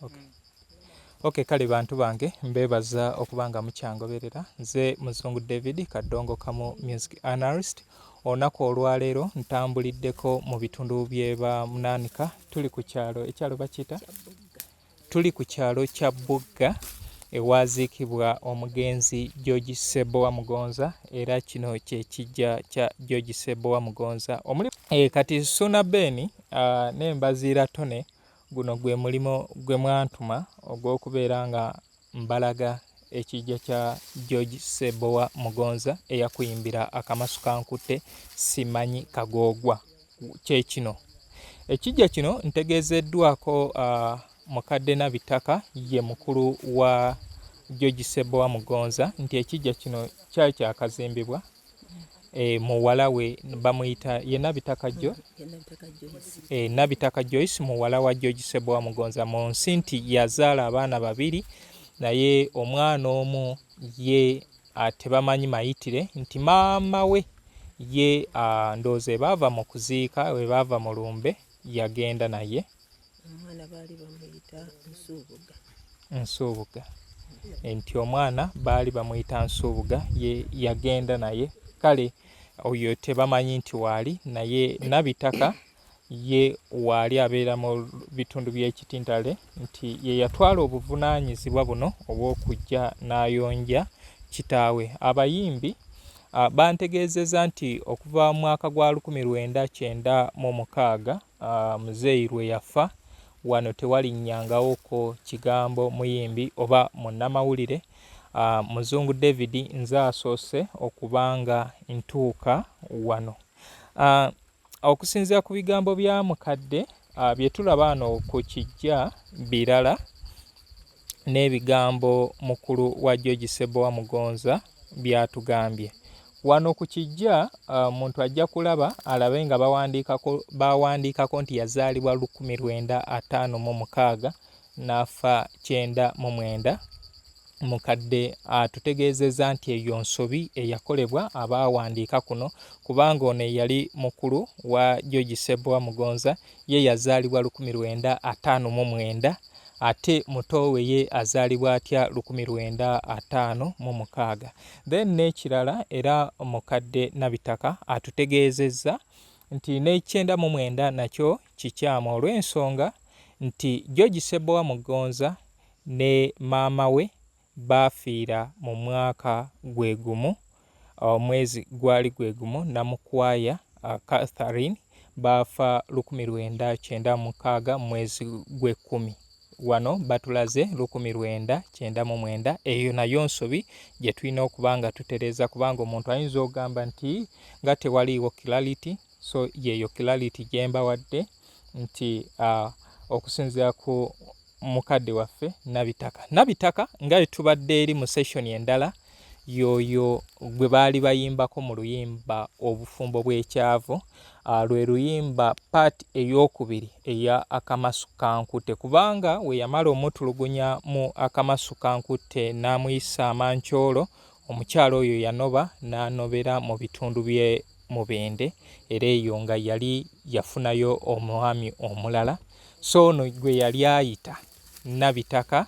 okay. Mm. Okay, kale bantu bange mbebaza okuba nga mukyangoberera nze muzungu david kadongo kamu music analyst olunaku olwaleero ntambuliddeko mu bitundu byeba munaanika tuli ku kyalo ekyalo bakiyita tuli ku kyalo kya bugga ewaziikibwa omugenzi george sebowa mugonza era kino kyekijja kya george sebowa mugonza omuli e, kati suna beni uh, ah, nembaziira tone Guno gwe mulimo gwe mwantuma ogw'okubeera nga mbalaga ekijja kya George Ssebowa Mugonza eyakuyimbira Akamasu kankutte simanyi kagoogwa kye kino. Ekijja kino ntegeezeddwako uh, mukadde Nabitaka ye mukulu wa George Ssebowa Mugonza nti ekijja kino kyali kyakazimbibwa eh, muwala we bamuyita ye Nabitaka jo eh, Nabitaka Joyce muwala wa George Sebowa Mugonza mu nsi nti yazaala abaana babiri naye omwana omu ye ah, tebamanyi mayitire nti maama we ye ah, ndowooza ebaava mu kuziika ebaava mu lumbe yagenda naye omwana baali bamuyita nsuubuga nsuubuga nti omwana baali bamuyita nsuubuga ye yagenda naye kale oyo tebamanyi nti waali naye nabitaka ye waali abeera mu bitundu by'ekitintale nti ye yatwala obuvunaanyizibwa buno obw'okujja n'ayonja kitaawe abayimbi bantegeezeza nti okuva mu mwaka gwa 1996 uh, muzeeyi lwe yafa wano tewalinnyangawooko kigambo muyimbi oba munnamawulire uh, muzungu david nze asoose okuba nga ntuuka wano uh, okusinzira ku bigambo bya mukadde uh, bye tulaba ano ku kijja birala n'ebigambo mukulu wa George Ssebbowa Mugonza by'atugambye. Wano ku kijja omuntu ajja kulaba alabe nga bawandiikako baawandiikako nti yazaalibwa lukumi lwenda ataano mu mukaaga n'afa kyenda mu mwenda mukadde atutegeezezza nti eyo nsobi eyakolebwa abaawandiika kuno kubanga ono eyali mukulu wa George Ssebbowa Mugonza Ye yazaalibwa lukumi lwenda ataano mu mwenda, ate muto we ye azaalibwa atya lukumi lwenda ataano mu mukaaga. Then n'ekirala era mukadde Nabitaka atutegeezezza nti n'ekyenda mu mwenda nakyo kikyamu olw'ensonga nti George Ssebbowa Mugonza ne maama we baafiira mu mwaka gwe gumu, omwezi gwali gwe gumu, Namukwaya Catherine baafa lukumi lwenda kyenda mukaaga mu mwezi gw'ekkumi. Wano batulaze lukumi lwenda kyenda mu mwenda. Eyo nayo nsobi gye tulina okuba nga tutereeza kubanga omuntu ayinza ogamba nti nga tewaliiwo clarity, so yeeyo clarity gye mbawadde nti uh, okusinziira ku mukadde waffe nabitaka nabitaka nga etubadde eri mu session endala yoyo gwe baali bayimbako mu luyimba obufumbo bw'ekyavu ah, lwe luyimba part eyokubiri eya akamasu kankutte kubanga we yamala omutulugunya mu akamasu kankutte n'amuyisa amancoolo omukyala oyo yanoba n'anobera mu bitundu bye Mubende era eyo nga yali yafunayo omwami omulala so ono gwe yali ayita Nabitaka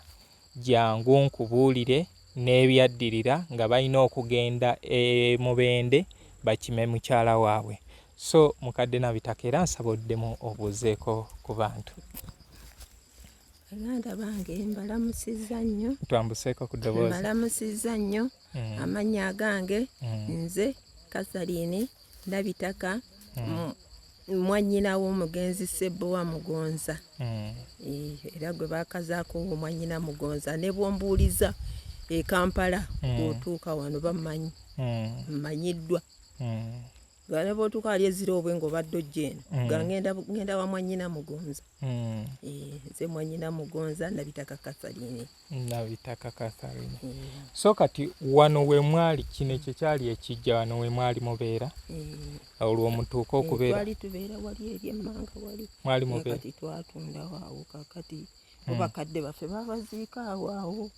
jangu nkubuulire n'ebyaddirira nga balina okugenda e Mubende bakime mukyala waabwe so mukadde Nabitaka era nsaba oddemu obuuzeeko ku bantu. Baganda bange mbalamusizza nnyo. Twambuseeko ku ddoboozi. Mbalamusizza nnyo. mm. amannya agange mm. nze kasaliini ndabitaka mm. mwanyina w'omugenzi sebbowa mugonza era gwe bakazaako omwanyina mugonza ne bwombuuliza e kampala otuuka wano bamanyi mmanyiddwa nga ne bwotuuka ali ezira obwe nga obadde ojja eno mm. nga ngenda wa mwanyina mugonza mm. eh, nze mwanyina mugonza nabitaka katharine nabitaka katharine eh. so kati wano wemwali kino ekyo kyali ekijja wano wemwali mubeera eh. olwo mutuuka okubeeratwali tubeera wali eri emmanga wali mwali mubeerakati twatundawo awo kakati mm. obakadde baffe babaziika awo awo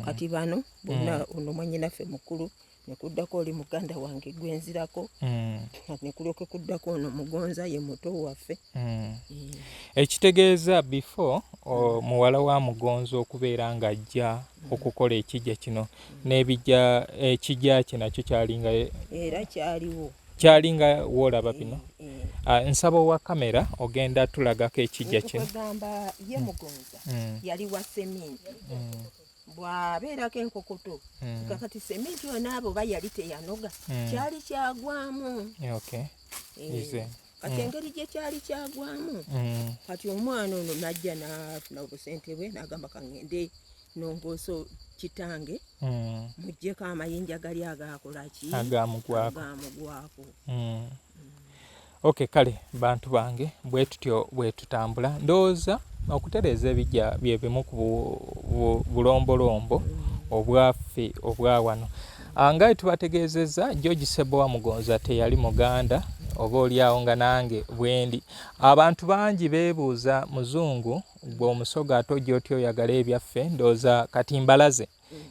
kati bano bonna ono mwanyinaffe mukulu nekuddako oli muganda wange gwenzirako mm. nekulyoke kuddako ono mugonza ye muto waffe mm. mm. ekitegeeza before mm. muwala wa mugonza okubeera ng'ajja mm. okukola ekijja kino mm. n'ebijja ekijja kye nakyo kyalinga era kyaliwo kyali nga woolaba bino eh, eh. Ah, nsaba owa kamera ogenda tulagako ekijja kino mm. mm. bwabeerako enkukutu hmm. nga kati sementi yona abo oba yali teyanoga hmm. kyali kyagwamu eh, kati hmm. engeri gye kyali kyagwamu kati omwana ono najja nafuna obusente bwe nagamba kangende nongooso kitange mujjeko amayinja gali agakolaki agamugwako ok kale bantu bange bwetutyo bwetutambula ndowooza okutereeza ebijja byebimu ku bulombolombo obwaffe obwa wano ah, nga etubategeezezza george sebowa mugonza teyali muganda oba olyawo nga nange bwendi abantu bangi beebuuza muzungu gwe omusoga ate ojja otya oyagala ebyaffe ndowooza kati mbalaze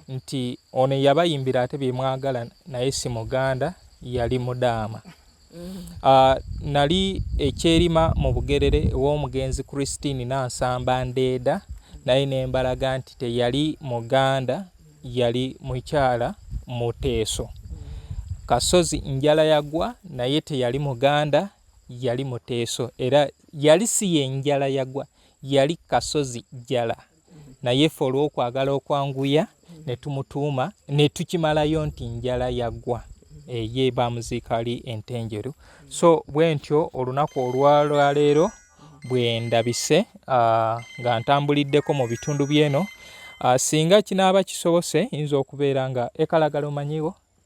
nti ono eyabayimbira ate byemwagala naye si muganda yali mudaama uh, nali ekyerima mu bugerere ew'omugenzi christine nansamba ndeeda naye nembalaga nti teyali muganda yali mukyala muteeso kasozi njala yagwa naye teyali muganda yali muteeso era yali si yenjala yagwa yali kasozi jala naye ffe olw'okwagala okwanguya ne tumutuuma ne tukimalayo nti njala yaggwa eye bamuziika ali entenjeru so bwe ntyo olunaku olwalwaleero bwe ndabise ah, nga ntambuliddeko mu bitundu by'eno ah, singa kinaaba kisobose yinza okubeera nga ekalagala omanyiwo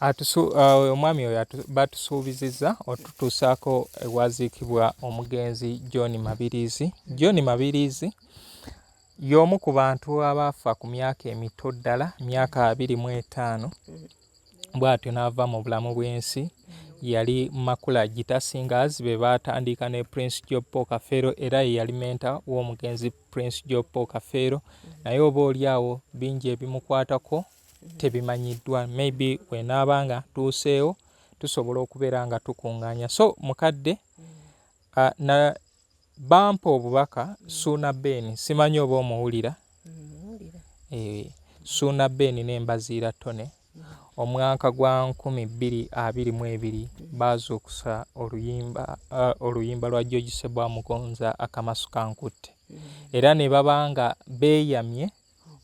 Uh, omwami oyo batusuubizizza otutuusaako ewaziikibwa omugenzi john mabiriizi john mabiriizi y'omu ku bantu abaafa ku myaka emito ddala myaka abiri mu etaano bw'atyo n'ava mu bulamu bw'ensi yali makula gitasingazi be baatandiika ne prince jopo kafeero era ye yali menta w'omugenzi Prince Joe Paul Kafeero mm-hmm. naye oba oli awo bingi ebimukwatako mm-hmm. tebimanyiddwa maybe wenaaba nga tuuseewo tusobola okubeera nga tukuŋŋaanya so mukadde mm-hmm. uh, na bampa obubaka suuna ben simanyi oba omuwulira eh, suuna ben nembaziira tone Omwaka gwa nkumi bbiri abiri mu ebiri baazuukusa oluyimba uh, oluyimba lwa George Ssebwa Mugonza akamasu kankutte era ne baba nga beeyamye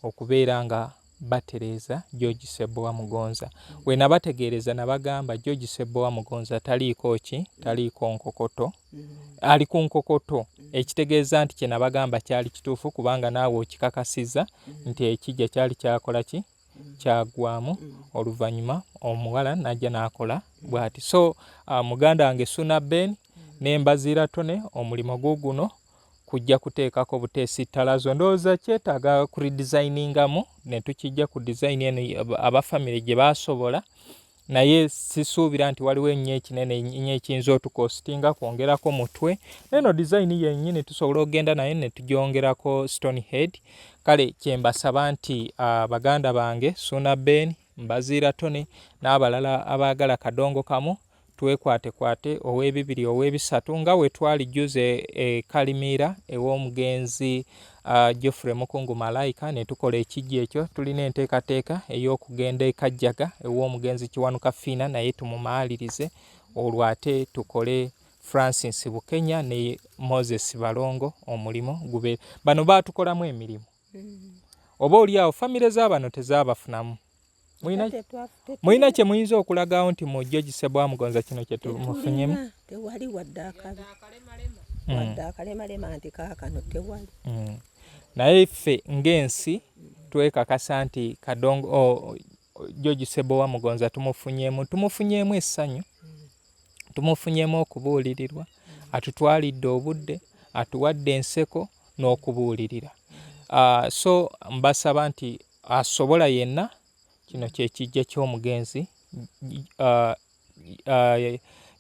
okubeera nga batereeza George Ssebbowa Mugonza we nabategeereza nabagamba George Ssebbowa Mugonza taliiko ki taliiko nkokoto ali ku nkokoto ekitegeeza nti kye nabagamba kyali kituufu kubanga naawe okikakasiza nti ekijja kyali kyakola ki kyagwamu oluvanyuma omuwala najja nakola bwati so uh, muganda wange suna ben nembazira tone omulimu guguno kujja kuteekako buteesi ttalazo ndowooza kyetaaga kuridizainingamu netukijja ku dizayini eno aba famire gye basobola naye sisuubira nti waliwo ennyo ekinene nnyo ekiyinza otukositinga kwongerako mutwe neno design yennyini tusobola okugenda naye ne tugyongerako stone head kale kyembasaba nti uh, baganda bange suuna ben mbaziira tony n'abalala abaagala kadongo kamu twekwatekwate ow'ebibiri ow'ebisatu nga we twali juze e kalimiira ew'omugenzi e uh, Geoffrey Mukungu Malaika ne tukola ekijja ekyo. Tulina enteekateeka ey'okugenda e Kajjaga ew'omugenzi Kiwanuka Fiina naye tumumaalirize olwo ate tukole Francis Bukenya ne Moses Balongo omulimu gube bano batukolamu emirimu mm. oba oli awo famire z'abano tezaabafunamu mulina kye muyinza okulagawo nti mu jjo gisebwa mugonza kino kye tumufunyemu tewali wadde akabi mm. wadde akalemalema nti kaakano tewali mm. naye ffe ng'ensi twekakasa nti kadongo jjo gisebowa mugonza tumufunyemu tumufunyemu essanyu tumufunyemu okubuulirirwa atutwalidde obudde atuwadde enseko n'okubuulirira ah, so mbasaba nti asobola yenna, kino kye kiggya ky'omugenzi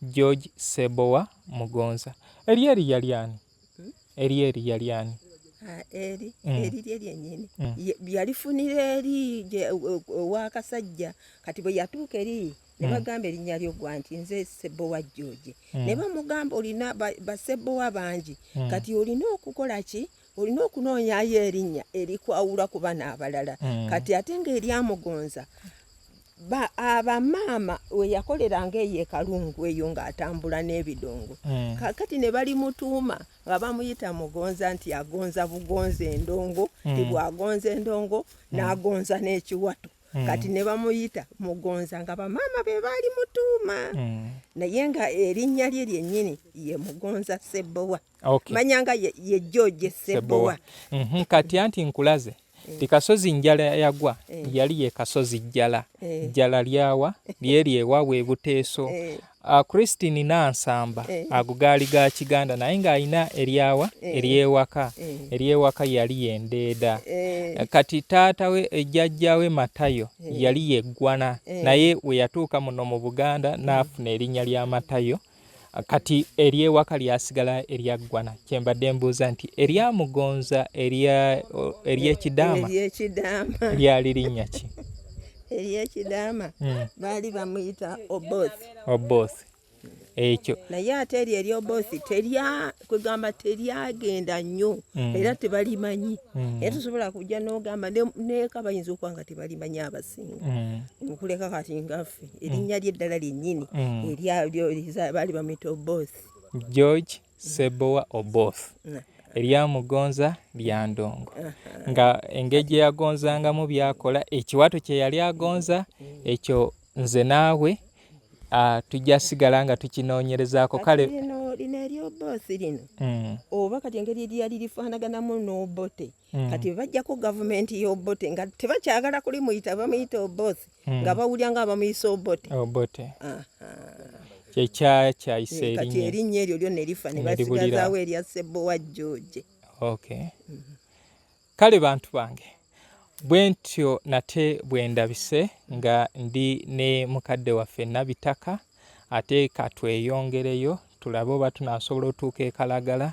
George Ssebowa Mugonza. Eri eri yali ani? Hmm? Eri eri yali ani? Ah, eri hmm. eri lye lyennyini hmm. yalifunira eri ow'akasajja kati bwe yatuuka eri ne bagamba erinnya lyo gwa nti nze Ssebowa George ne bamugamba olina Bassebowa bangi kati olina okukola ki olina okunoonyayo erinnya erikwawula ku bana abalala mm. kati ate ngaeryamugonza abamaama weyakoleranga eyo ekalungu eyo ngaatambula n'ebidongo mm. kakati ne bali mutuuma nga bamuyita mugonza nti agonza bugonza endongo mm. ebwagonza endongo n'agonza n'ekiwato Mm. kati ne bamuyita mugonza nga bamaama be baali mutuuma mm. naye nga erinnya lye lyennyini ye mugonza sebbowa okay. manya nga ye, ye George Sebowa mm -hmm. kati anti nkulaze eh. ti kasozi njala yagwa eh. yali ye kasozi jjala eh. jjala lyawa lyeri ewa webuteeso eh. uh, Christine Nansamba eh. agugaali ga Kiganda naye ng'alina eryawa eh. eryewaka eh. eryewaka yali yendeeda eh. kati taata we ejjajja we Matayo eh. yali yeggwana eh. naye we yatuuka muno mu Buganda n'afuna erinnya lya Matayo eh. kati eryewaka lyasigala eryaggwana kyembadde mbuuza nti eryamugonza eryekidaama lyali linnya ki eryekidaama hmm. baali bamuyita oboth oboth ekyo naye ate eryo eryoboth kwegamba teryagenda nnyo mm. era tebalimanyi mm. era tosobola kujja nogamba neka bayinza okuba nga tebalimanyi abasinga mm. okuleka kati ngaffe erinnya lyeddala lyennyini baali bamwita oboth george sebowa oboth eryamugonza lya ndongo nga engeri gye yagonzangamu byakola ekiwato kye yali agonza ekyo Nze naawe ah, tujja sigala nga tukinoonyerezaako kale lino eryoboosi lino mm. oba kati engeri eryali lifaanaganamu n'obote mm. kati bajjako gavumenti y'obote nga tebakyagala kuli muyita bamuyita oboosi mm. nga bawulira nga abamuyisa obote obote kyekyakyayisa eh, kati erinnya eryo lyonna erifa ne basigazaawo erya ssebbo wa george okay mm-hmm. Kale bantu bange bwentyo nate bwendabise nga ndi ne mukadde waffe Nabitaka ate katweyongereyo tulabe oba tunasobola otuuka e Kalagala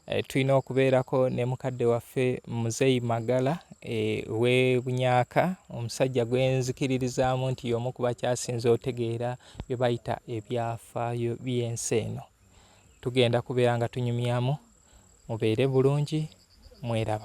e, tulina okubeerako ne mukadde waffe Muzeyi Magala e, we Bunyaka omusajja gwenzikiririzaamu nti y'omu ku bakyasinze otegeera bye bayita ebyafaayo by'ensi eno tugenda kubeera nga tunyumyamu mubeere bulungi mweraba.